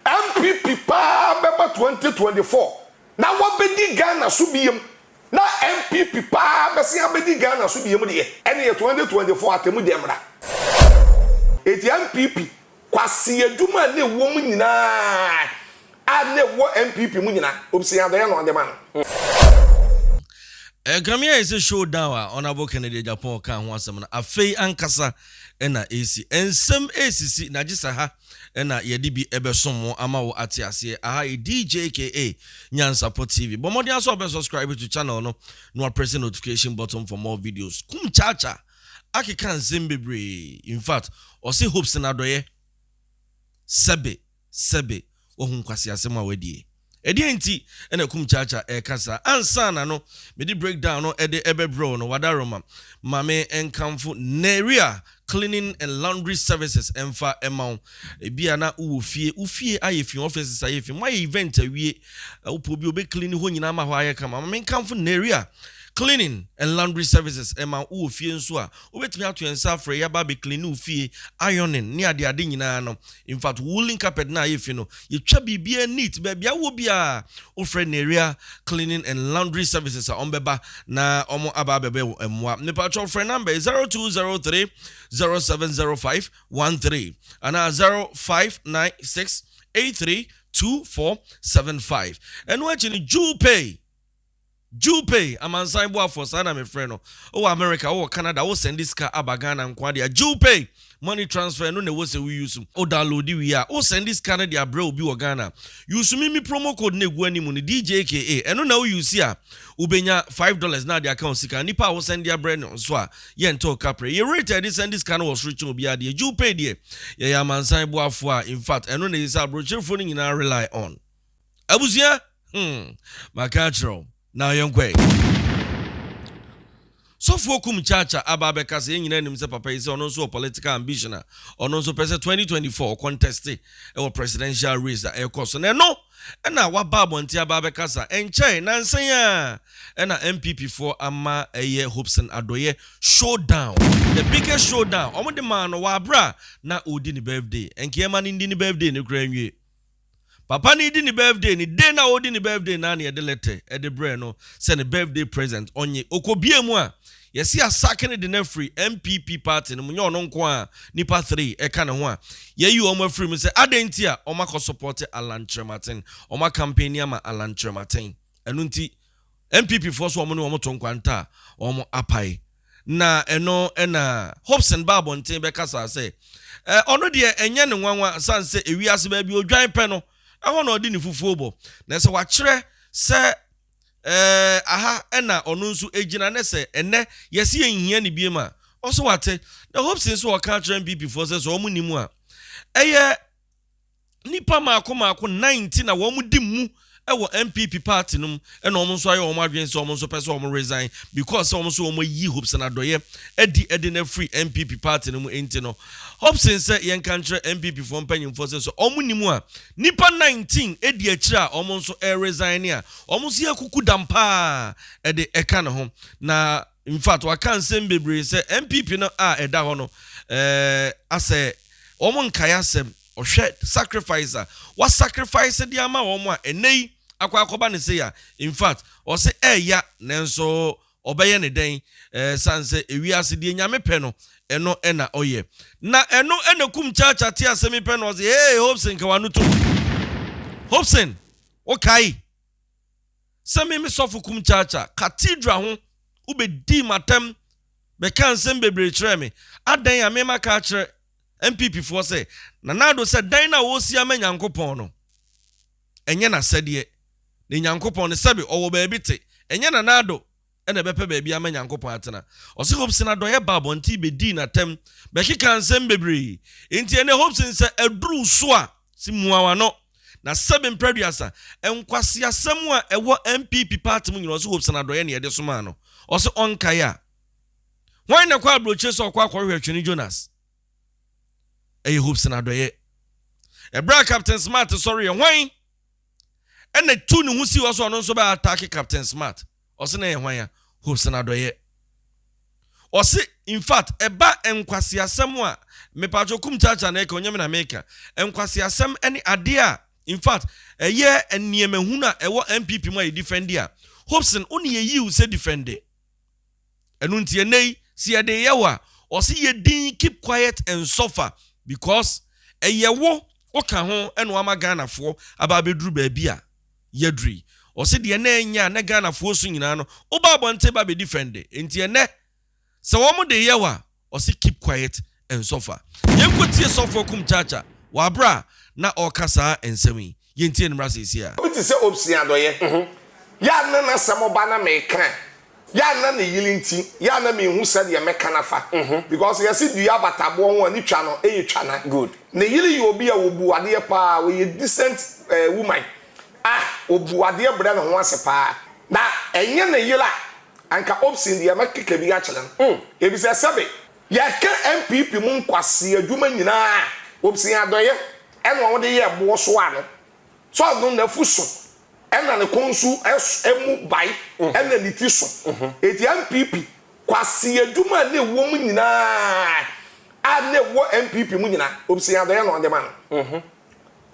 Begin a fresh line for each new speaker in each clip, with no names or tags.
NPP paa bɛba twenty twenty four na wabɛdi Ghana so biam na NPP paa bɛsen abɛdi Ghana so biam deɛ ɛneɛ twenty twenty four atɛmu gya mmra enti NPP kwasea adwuma a na ɛwɔ mu nyinaa a na ɛwɔ NPP mu nyinaa obsea adɛɛ na ɔde ma no.
Ɛkame ayɛ sɛ show down a Honourable Kennedy Agyapong kaa ho asɛm no afei ankasa na ɛresi. Nsɛm resisi na gye sɛ ha. na yɛde bi bɛsom wo ama wo ate aseɛ aha yi DJKA Nyansapɔ TV bɔ mmɔden asɛ ɔbɛ subscribe to channel no na waprɛse notification button for more videos kum kyaakya akeka nsɛm bebree in fact ɔse hopes na adɔyɛ sɛbe sɛbe wahu nkwasi asɛm a wadie. Ɛdeɛn nti na Kumchacha reka saa? Ansa na no mede breakdown no de bɛbrɛ wo no, Wadaroma, ma me nkamfo Neria Cleaning and Laundry Services mfa mma wo. Ebia na wowɔ fie, wo fie ayɛ fi, offices ayɛ fi, moayɛ event awie, wopɛ obi a ɔbɛclean hɔ nyinaa ma hɔ ayɛ kama. Ma me nkamfo Neria Cleaning and Laundry Services ma wo. Wowɔ fie nso a, Wobɛtumi ato yɛn nsa afrɛ yi aba abɛclean ne wo fie, ironing ne ade ade nyinaa no. In fact, woolen carpet no a ayɛ fi no, yɛtwa biribiara neat. Baabi a wowɔ biara, wofrɛ Nerea Cleaning and Laundry Services a wɔbɛba na wɔn aba abɛbɛ wo mmoa. Mepakyɛw frɛ number yi, zero two zero three zero seven zero five one three anaa zero five nine six eight three two four seven five. Ɛno akyi no, Jewel Pay Jill Pei, amansan boafoɔ, saa na mefrɛ no, wowɔ America, wowɔ Canada, wo sɛnde sika aba Ghana nkoa de a, Jill Pei money transfer no na ɛwɔ sɛ wo use, wo download wie a, wo sɛnde sika no de abrɛ obi wɔ Ghana, use me me promo code no a ɛgu anim no, DJKA, ɛno na wo use a, wo bɛnya five dollars na ade aka wo sika, nipa a wo sɛnde abrɛ no nso a, yɛ ntɔ wo kaprɛ, yɛ rate a yɛde sɛnde sika no wɔ soro kyɛn obiara deɛ, Jill Pei deɛ, yɛyɛ amansan boafoɔ a, in fact, ɛno na ɛsɛ sɛ abrɔkyerefo no nyinaa rely on. abusua hmm maka akyerɛ wo na yɛn kɔ ɛ. Sɔfoɔ kum kyaakya aba abɛka sɛ yɛn nyinaa nim sɛ papa yi sɛ ɔno nso wɔ political ambition a ɔno nso pɛ sɛ 2024 ɔkɔntɛste wɔ presidential race a ɛrekɔ so na ɛno na waba abɔnten aba abɛkasa ɛnkyɛe nansa yi ara na NPP foɔ ama ɛyɛ Hopson Adɔyɛ show down the biggest show down wɔn de maa no wɔ abere a na ɔredi ne birthday ɛnke yɛma no ndi ne birthday no koraa nwie Papa no redi ne birthday no, day no a ɔredi ne birthday no ara na yɛde letter de brɛɛ no sɛ ne birthday present ɔnnye. Ɔkɔbue mu a, yɛse yɛasake no de no afiri NPP party no mu, nyɛ ɔno nko ara, nnipa three ɛka ne ho a yɛayi wɔn afiri mu sɛ adɛn nti a wɔakɔ support Allan Kyerematen, wɔn acampaigni ama Allan Kyerematen. Ɛno nti NPP foɔ nso wɔn ne wɔn to nkwanta a wɔapae. Na ɛno na Hobson baa abɔnten bɛkasaa sɛ, Ɛ, ɔno deɛ ɛnyɛ no nwanwa sane sɛ ewiase baabi a ɔdwan pɛ no, ɛhɔ na ɔde ne fufuo bɔ. Na sɛ wɔakyerɛ sɛ, Ɛ, aha na ɔno nso gyina, ne sɛ, Ɛnnɛ, yɛse yɛnhia no biom a, ɔse wate. Na Hobson se ɔkaa kyerɛɛ MPPfoɔ sɛ sɛ wɔn nnim a, ɛyɛ Nnipa mmaako mmaako nnan nti na wɔdi mmu wɔ NPP party no mu ɛna wɔn nso ayɛ wɔn adwene sɛ wɔn nso pɛ sɛ wɔn resign because sɛ wɔn nso wɔn ayi Hobson Adɔyɛ adi de no afiri NPP party no mu nti no Hobson sɛ yɛnka nkyerɛ NPP foɔ mpanyinfoɔ sɛ sɛ wɔn nnim a nnipa nineteen di akyire a wɔn nso resign a wɔn nso yɛ kuku dam paa ɛde ɛka ne ho na infact waka nsɛm bebree sɛ NPP no a ɛda hɔ no ɛɛ asɛ wɔn nkae asɛm. ɔhwɛ sacrifice a wa sacrifice de ama wɔn a ɛnɛ yi akɔ akɔba ne sei a in fact ɔse ɛɛya nanso ɔbɛyɛ ne dɛn ɛɛ san sɛ ewiase deɛ nyame pɛ no ɛno ɛna ɔyɛ na ɛno ɛna kum kyaakya te asɛm pɛ na ɔse hey Hobson ka wano tom Hobson wokae sɛ me me sɔfo kum kyaakya cathedral ho wobɛdii matam bɛka nsɛm bebree kyerɛ me adɛn a mema ka kyerɛ NPP foɔ sɛ, Nana Addo sɛ dan no a ɔresi ama Nyankopɔn no, ɛnyɛ n'asɛdeɛ, ne Nyankopɔn no, sɛbe ɔwɔ baabi te, ɛnyɛ Nana Addo na ɛbɛpɛ baabi ama Nyankopɔn atena. Ɔse Hopsin adɔeɛ baa abɔnten bɛdii n'atɛm bɛkekaa nsɛm bebree, enti ɛnɛ Hopsin sɛ aduru so a, se mua w'ano, na sɛbe mprɛduasa, nkwaseasɛm a ɛwɔ NPP paate mu nyinaa ɔse Hopsin adɔeɛ na ɛde somaa no, ɔse ɔnkae a. Hwan na ɛkɔ aburokyire sɛ ɔkɔ akɔhwehwɛ Twene Jonas? Ɛyɛ Hobson Adɔeɛ. Ɛberɛ a Captain Smart sɔreeɛ, hwan na tuu ne ho sii hɔ sɛ ɔno nso bɛ ataake Captain Smart? Ɔse na ɛyɛ hwan a? Hobson Adɔeɛ. Ɔse in fact ɛba nkwaseasɛm a, mepatwo Kum Kyaakyaa na ɛka, ɔnyɛ me na meka. Nkwaseasɛm ne adeɛ a in fact ɛyɛ nneɛma hunu a ɛwɔ NPP mu a yɛdifɛnde a, Hobson wo ne yɛyi wo sɛ difɛnde. Ɛno nti ɛnnɛ yi sɛ yɛde yɛ wo a, ɔse yɛ dinn keep quiet and suffer because ɛyɛ wo woka ho na wama Ghanafoɔ aba abɛduru baabi a yɛaduru yi. Ɔse deɛ na ɛnyɛ a na Ghanafoɔ su nyinaa no, woba abɔnten ba bɛ defend. Nti ɛnnɛ sɛ wɔde yɛ wo a, Ɔse keep quiet and suffer. Yɛnkɔ tie sɔfo akum Chacha wɔ aberɛ a na ɔreka saa nsɛm yi. Yɛntie ne mmra seesei a. Obi te sɛ Obson
Adɔyɛ, yɛ a na n'asɛm ɔba na meka a, yɛ a na ne yere nti, yɛ a na menhu sɛdeɛ mɛka no afa. Because yɛse dua bata boɔ ho a ne twa no yɛ twa na. Good. Ne yere yɛ
obi a
ɔbu adeɛ paa, ɔyɛ decent woman a ɔbu adeɛ brɛ ne ho ase paa. Na ɛnyɛ ne yere a Anka Opsin deɛ mɛkeka bi akyerɛ no mm efisɛ sɛbe. Yɛka NPP mu nkwasea adwuma nyinaa a, Opsin adɔeɛ ɛna ɔde yɛɛ boɔ so ano. Sɛ ɔno nafu so ɛna ne kɔn su ɛmu bae ɛna ne ti so. Eti NPP kwasea adwuma a na ɛwɔ mu nyinaa a na ɛwɔ NPP mu nyinaa, Opsin adɔeɛ na ɔde ma no.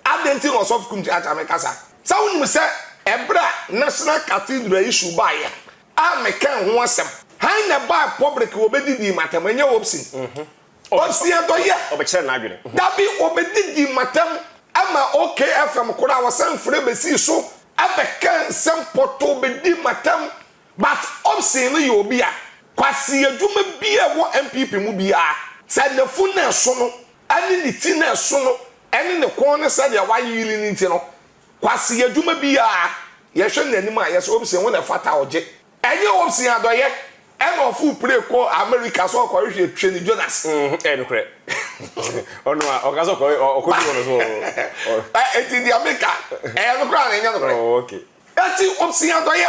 Adɛn nti na Ɔsɔfo Kum kyeakyea me kasa? Sɛ wonim sɛ ɛberɛ a National Cathedral issue baeɛ a mekɛɛ ho asɛm, hann na ɛbae public wɔbɛdidii m'atɛm, ɛnyɛ Hobson. Hobson adɔ yɛ. Ɔbɛkyerɛ n'adwene.
Dabi, wɔbɛdidii
m'atɛm ma OK FM koraa wɔsan frɛ bɛsii so bɛkɛɛ nsɛm pɔtoo bɛdii m'atɛm but Hobson no yɛ obi a kwaseɛ adwuma biara ɛwɔ NPP mu biara sɛ nafunu na ɛso no ne ne ti na ɛso no ne ne kɔn ne sɛdeɛ wayeyere no nti no, kwasea adwuma biara yɛhwɛ no anim a yɛsɛ Obsen wo na ɛfata a ɔgye. Ɛnyɛ Obsen adɔeɛ na ɔforo pire kɔɔ Amerika sɛ ɔrekɔhwehwɛ Twene Jonas. Ɛyɛ nokorɛ.
Ɔno a ɔka sɛ ɔkɔduru hɔ no so ɔ. Enti deɛ meka,
ɛyɛ nokorɛ anaa ɛnyɛ nokorɛ? Enti
Obsen
adɔeɛ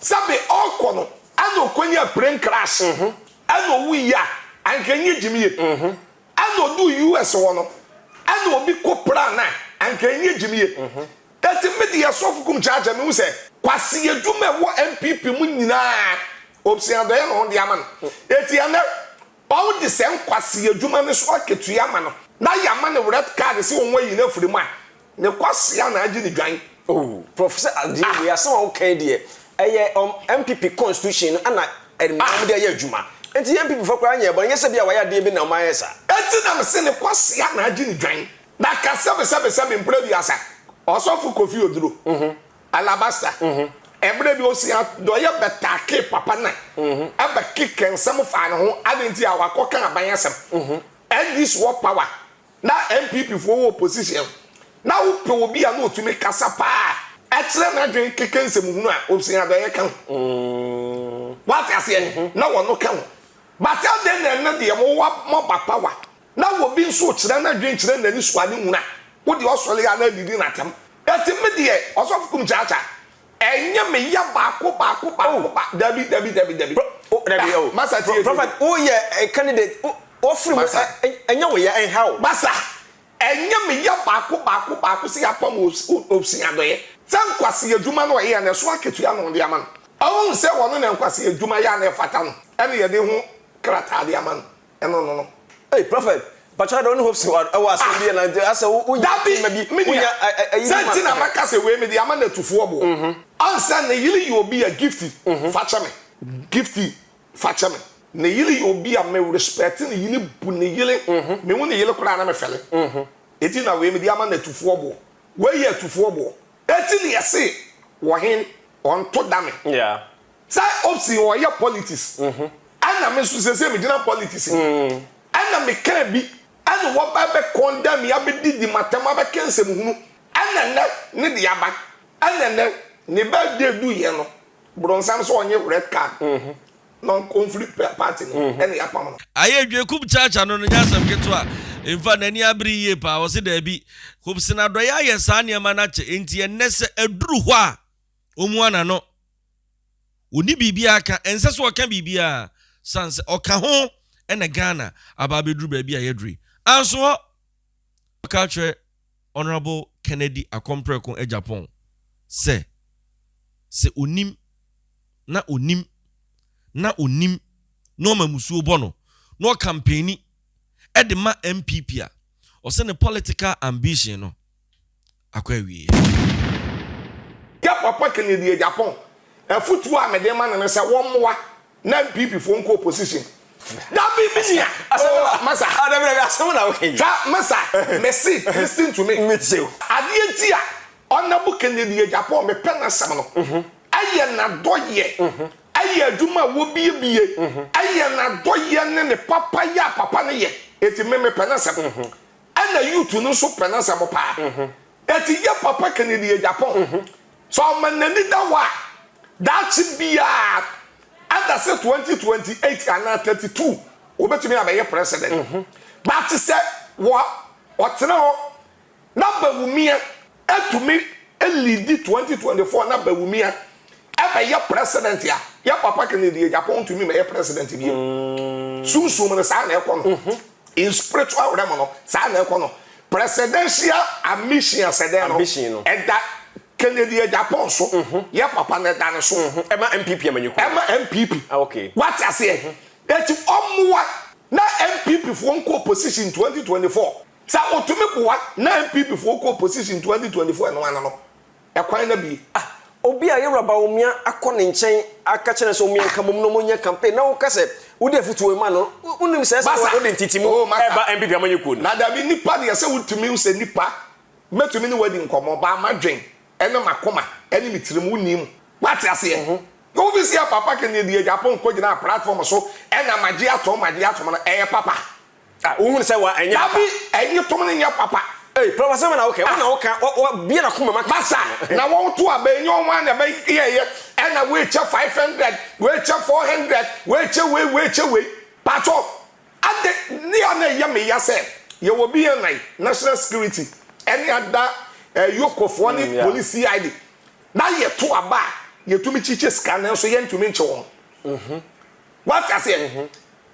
Sɛbe ɔkɔ no ɛna ɔkɔnya plane crash ɛna ɔwui a anka ɛnyɛ gyimie ɛna ɔduu US hɔ no ɛna ɔbi kɔ pran a anka ɛnyɛ gyimie ɛti me deɛ sɔfo kum charger mehu sɛ Kwasi adwuma ɛwɔ NPP mu nyinaa ɔbsua dɔeɛ na ɔde ama no ɛti ɛnɛ Ɔde saa nkwasea adwuma no so akatua ma no na yɛama no red card sɛ wɔn ayi no afiri mu a, ne kwasea na agye no dwan. Oh prof sɛ
adeɛ wei asɛm a woka yi deɛ ɛyɛ ɔm NPP constitution no na ɛma ɔmo de ayɛ adwuma nti yɛ NPP foɔ koraa nyɛɛ bɔne nyɛ sɛ bia wayɛ adeɛ bi na ɔmo ayɛ saa. Enti na mese ne
kwasea na agye no dwan na ka sɛbesɛbesɛbe mprɛ biasa ɔsɔfo Kofi Oduro. Alabasta, mmerɛ bi Osea dɔeɛ bɛtaakee papa na ɛbɛkekɛ nsɛm faa ne ho adɛn nti a wakɔ ka aban asɛm NDC wɔ power na NPP foɔ wɔ opposition na wo pɛ obi a na ɔtumi kasa paa ɛkyerɛ n'adwen kekɛ nsɛm hunu a Osea dɔeɛ ka ho wate aseɛ na ɔno ka ho but adɛn na ɛnɛ deɛ mo wɔ mo aba power Na obi nso rekyerɛ n'adwene kyerɛ n'ani so a ne nwunu a, wo deɛ ɔsɔre ara didi n'atɛm. Enti me deɛ, Ɔsɔfo Kumkyakya, ɛnyɛ me ya baako baako baako ba, dabi, dabi, dabi, dabi. Pro, dabi, oh. Masa tie, tie, tie. Prophet, wo
yɛ candidate, wo, wɔfiri mu, ɛ, ɛ, ɛnyɛ wo ya, ɛnha wo. Masa,
ɛnyɛ me ya baako baako baako sɛ yɛapam wo, wo, Obsing Adɔeɛ. Sɛ nkwasea adwuma na ɔyɛ a, na ɛso akatua na wɔde ama no. Ɔhunu sɛ ɔno na nkwasea adwuma yɛ a na ɛfata no, ɛna yɛde ho krataa de ama no. ɛno no no. Ei prophet
mpakyɛw ada wo ne Hopson wɔ ɛwɔ asɛm bi yɛ na nti asɛ wo wonya nneɛma bi wonya
ɛyi bi ma. Sɛnti na maka sɛ wei mede ama natufoɔ boɔ ansɛ ne yere yɛ obi a Gifty fa kyɛ me Gifty fa kyɛ me ne yere yɛ obi a me respect ne yere bu ne yere me hu ne yere koraa na me fɛle eti na wei mede ama natufoɔ boɔ wei yɛ atufoɔ boɔ eti ne yɛse wɔhen ɔnto da me Sɛ
opsin
ɔyɛ politics ɛna me nso sesei me gyina politics mu ɛna me kaa bi ɛna wɔba ɛbɛ condemn me abɛ didi matɛm abɛ ka nsɛm hunu ɛna ɛnɛ ne deɛ aba ɛna ɛnɛ ne birthday du yɛ no bronsam sɛ ɔnye red card na ɔnkɔ nfiri party no ɛna yɛapam no. Aye dwe kub chacha
no no nyɛ asɛm ketewa infa nani abere yie paa ɔse daabi kub sena dɔyɛ ayɛ saa nneɛma no akyɛ enti ɛnɛ sɛ aduru hɔ a ɔmua nano. Onni biribiara ka, ɛnsɛ sɛ ɔka biribiara sane sɛ ɔka ho na Ghana aba abɛduru baabi a yɛaduru yi. Anso hɔ! Wɔka kyerɛ Honourable Kennedy Akompreko Agyapong sɛ, sɛ ɔnim na ɔnim na ɔnim na ɔma musuo bɔ no na ɔkampani de ma NPP a, ɔsɛ ne political ambition no, akɔ awieɛ.
Yɛ papa Kennedy Agyapong, afutuo a mede ma no ne sɛ wɔmmoa na NPP foɔ nkɔ opposition. Dabi me nua oh masa
hwɛ masa
mese listen to me adeɛ
nti a
Honourable Kennedy Agyapong mepɛ n'asɛm no ɛyɛ n'adɔyɛ ɛyɛ adwuma a wɔbiebie ɛyɛ n'adɔyɛ ne ne papayɛ a papa no yɛ enti me mepɛ n'asɛm Ɛna youth no nso pɛ n'asɛm paa. Ɛti yɛ papa Kennedy Agyapong sɛ ɔma n'ani da hɔ a daakye biaa ɛda sɛ 2028 anaa 32 ɔbɛtumi abɛyɛ president. But sɛ ɔtena hɔ na Bawumia Ɛtumi liidi twenty twenty four na Bawumia ɛbɛyɛ president a yɛ papa Kennedy Agyapong ntumi mɛyɛ president bio. Sunsum no saa na ɛkɔ no. In spiritual realm no saa na ɛkɔ no. Presidential ambition asɛdɛn no ɛda Kennedy Agyapong so, yɛ papa no ɛda ne so. Ɛma NPP amanyɔkuo.
Ɛma NPP. Ah
okay. Wate
aseɛ?
Eti ɔmmoa na NPP foɔ nkɔ opposition twenty twenty four. Sɛ otumi boa na NPP foɔ kɔ opposition 2024 ɛno ano no ɛkwan no abue. Ah obi a yewuraba
omia akɔ ne nkyɛn aka kyerɛ no sɛ omia nka mom na ɔmo nyɛ campaign na woka sɛ wode afutuo rema no wonim sɛ ɛsɛ sɛ wode ntetemu ɛba NPP amanyɔkuo no. Na dabi nipa deɛ
sɛ wotumi wo sɛ nipa mɛtumi ne wo adi nkɔmɔ baa madwen ɛne makoma ɛne me tirim wo nim wate aseɛ na wo visia papa kɛneɛ di adwapon kɔ gyinaa platform so ɛna magye atom magye atom no ɛyɛ papa. Ah wohunu sɛ
wa ɛnyɛ papa. Dabi ɛyi tom no
nyɛ papa. Ei prɔfo asɛm na woka
yi wona woka wa bie na kuma ma ka masa na wɔn
to aba ɛnyɛ wɔn a na ɛbɛ yɛ yɛ ɛna wei kyɛ five hundred wei kyɛ four hundred wei kyɛ wei wei kyɛ wei pato ade ne a na ɛyɛ me ya sɛ yɛ wɔ bi yɛ nan national security ɛne ada eh, yoko foɔ ne mm, police cid na yɛ to aba a yɛ tumi kyikyɛ sika nanso yɛ ntumi nkyɛ wɔn. Mm -hmm. Wate aseɛ?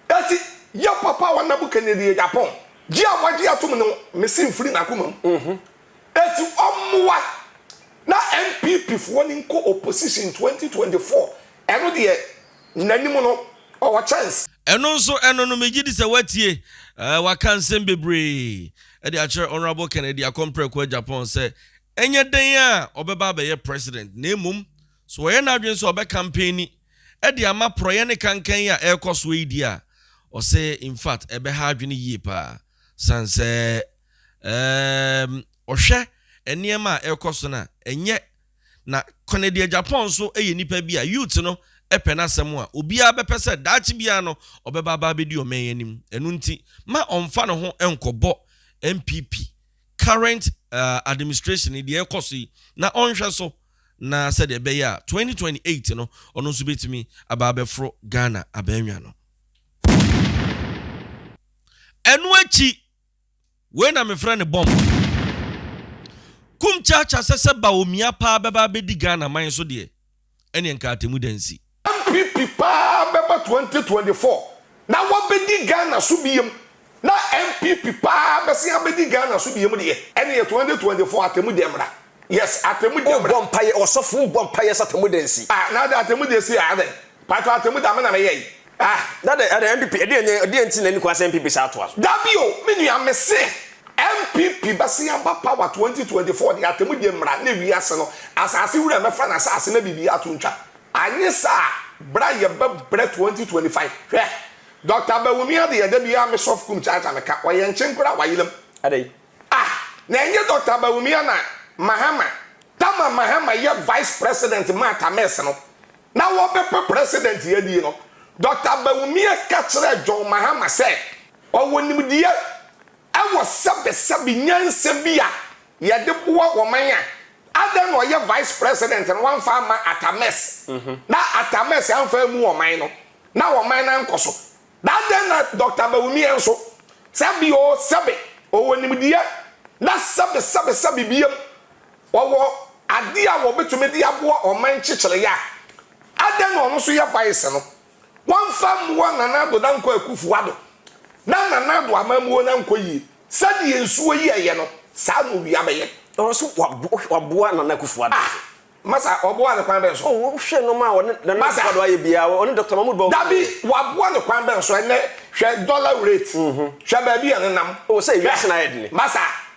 Enti yɛ papa wa Nabukanedia Japɔn gye a wagye atom no mese mfiri n'akoma mu. Enti ɔmmoa na NPP foɔ no nkɔ opposition 2024 ɛno deɛ n'anim no ɔwɔ chance. Ɛno nso ɛno
no megye di sɛ watie ɛɛ waka nsɛm bebree ɛde akyerɛ Honourable Kennedy Akompreko Agyapong sɛ ɛnyɛ dɛn a ɔbɛba abɛyɛ President na mmom So ɔyɛ n'adwene sɛ ɔbɛkanpenni de ama porɔeɛ ne kankan yi a ɛrekɔ soɔ yi deɛ a, ɔse in fact ɛbɛha adwene yie paa sane sɛ eem ɔhwɛ nneɛma a ɛrekɔ so no a ɛnyɛ na Kennedy Agyapong nso yɛ nipa bi a youth no pɛ n'asɛm a obiara bɛpɛ sɛ daakye biara no ɔbɛba aba abɛdi ɔman yi anim ɛno nti ma ɔmfa ne ho nkɔbɔ NPP current administration yi deɛ ɛrekɔ so yi na ɔnhwɛ so. na sɛdeɛ ɛbɛyɛ a 2028 no ɔno nso bɛtumi aba abɛforo Ghana abaanwa no. Ɛno akyi, wei na mefrɛ no bɔmb. Kum Kyaakya sɛ sɛ Bawumia paa bɛba abɛdi Ghana man so deɛ, ɛneɛ nka atɛmmuda nsi. NPP paa
bɛba 2024 na wabɛdi Ghana so biam na NPP paa bɛsen abɛdi Ghana so biam deɛ ɛneɛ 2024 atemudɛ mmra yes atemudɛ mmra. Wobɔ mpaeɛ ɔsɔfo wobɔ
mpaeɛ sɛ atemudɛ nsi. Ah na adɛn atemudɛ si
ah adɛn paatwɔ atemudɛ a me na me yɛe ah. Na adɛn adɛn
NPP ɛdeɛn nyɛ ɛdeɛn nti na ɛni kwan sɛ NPP san atoa so. Dabi o me nua
mese NPP bɛsen aba power 2024 deɛ atemudɛ mmra na ewiase no asaase wura mɛfa n'asaase na biribiara to ntwa Anyɛ saa a, bra yɛ bɛ brɛ 2025. Hwɛ! Doctor Abawumi adeyɛ da biara me sɔf kum kyaakya me ka, ɔyɛ nkyen koraa wa yelam. Adɛn?
Ah! Na
ɛnyɛ Doctor Abawumi a na Mahama, Tama Mahama yɛ vice president maa Tames no, na wɔ bɛ pɛ president yɛ die no, Doctor Abawumi ɛ ka kyerɛɛ John Mahama sɛ ɔwɔ nimdeɛ ɛwɔ sɛbɛ sɛbe nyansa bi a Yɛde boa ɔman a. Adɛn na ɔyɛ vice president no wamfa amma Atta Mills na Atta Mills amfa ammu ɔman no na ɔman no ankɔ so? Na adɛn na Doctor Bawumia nso, sɛbe oo sɛbe ɔwɔ nimdeɛ na sɛbe sɛbe sɛbe biam ɔwɔ adeɛ a ɔbɛtumi de aboa ɔman kyekyereyɛ a, adɛn na ɔno nso yɛ vice no? wɔmfa mmoa Nana Addo Dankwa Akuffo Addo na Nana Addo amammuo no ankɔ yie. Sɛdeɛ nsuo yi ɛyɛ no, saa na owia bɛyɛ. Ɔwɔ so
waboa Nana Akuffo Addo. Ah! Masa,
ɔboa no kwan bɛn so? Oh, wohwɛ nnoɔma a ɔne
Nana Akuffo Addo ayɛ biara, ɔne Doctor Mahmoud Bawumia. Dabi, waboa no
kwan bɛn so? Ɛnnɛ, hwɛ dollar rate, hwɛ
baabi
a ɛnenam. Oh, sɛ wiase no ayɛ dene. Masa,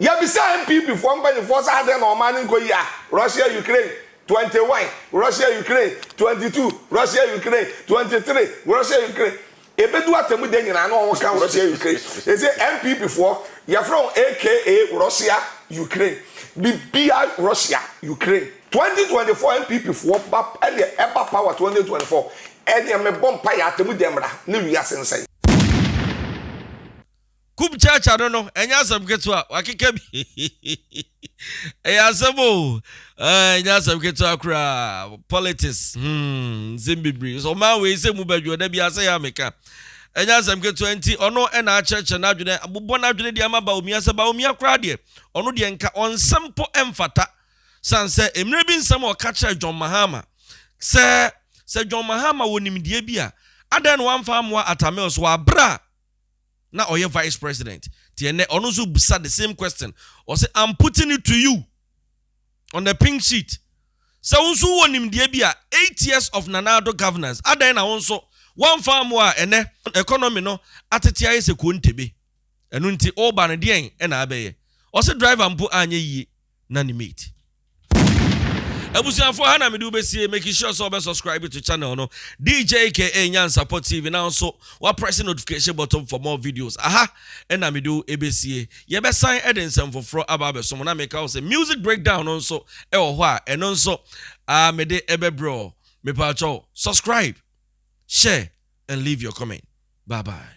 Yɛbisaa NPP foɔ mpaninfoɔ sɛ adɛn na ɔman no nkɔ yie a Russia Ukraine twenty one Russia Ukraine twenty two Russia Ukraine twenty three Russia Ukraine ɛbɛdu atɛmu da nyinaa na wɔn ka Russia Ukraine ɛsɛ NPP foɔ yɛfrɛ wɔn aka Russia Ukraine bibia Russia Ukraine twenty twenty four NPP foɔ ba ɛneɛ ɛba power twenty twenty four ɛneɛ mebɔ mpaeɛ atɛmu da mmra na wiase nsɛe.
Kum church ano no ɛnyɛ asɛm ketewa wakeka bi ɛyɛ asɛm o ɛnyɛ asɛm ketewa koraa politics hmm nsɛm bebree so ɔman wei sɛ mu bɛdwo da bi asɛ yɛ ameka ɛnyɛ asɛm ketewa nti ɔno ɛna akyerɛkyerɛ n'adwene abobɔ n'adwene deɛ ama baomia sɛ baomia koraa deɛ ɔno deɛ nka ɔnsɛm po ɛmfata san sɛ mmerɛ bi nsɛm a ɔka kyerɛ John Mahama sɛ sɛ John Mahama wɔ nimdeɛ bi a adɛn na wamfa amoa Atamil so wɔ aberɛ a na ɔyɛ vice president nti ɛnɛ ɔno nso bisa the same question ɔsɛ I'm putting it to you on the pink sheet sɛ wo nso wɔ nimdeɛ bi a eight years of Nana Addo governance adɛn na wo nso wɔmfa mmoa a ɛnɛ economy no atete ayɛ sɛ kuo ntebe ɛno nti woba no deɛn ɛna abɛyɛ ɔsɛ driver mpo anyɛ yie na ne mate. Abusuafoɔ ha na mede wobɛsie making sure sɛ wɔbɛ subscribe to channel no DJ KA Nyansapɔ TV na nso wa press notification button for more videos aha na mede wo ɛbɛsie yɛbɛsan ɛde nsɛm foforɔ aba abɛso mo na meka wo sɛ music breakdown no nso ɛwɔ hɔ a ɛno nso ah, mede ɛbɛbrɛ ɔ mepaakyɛw subscribe share and leave your comment bye bye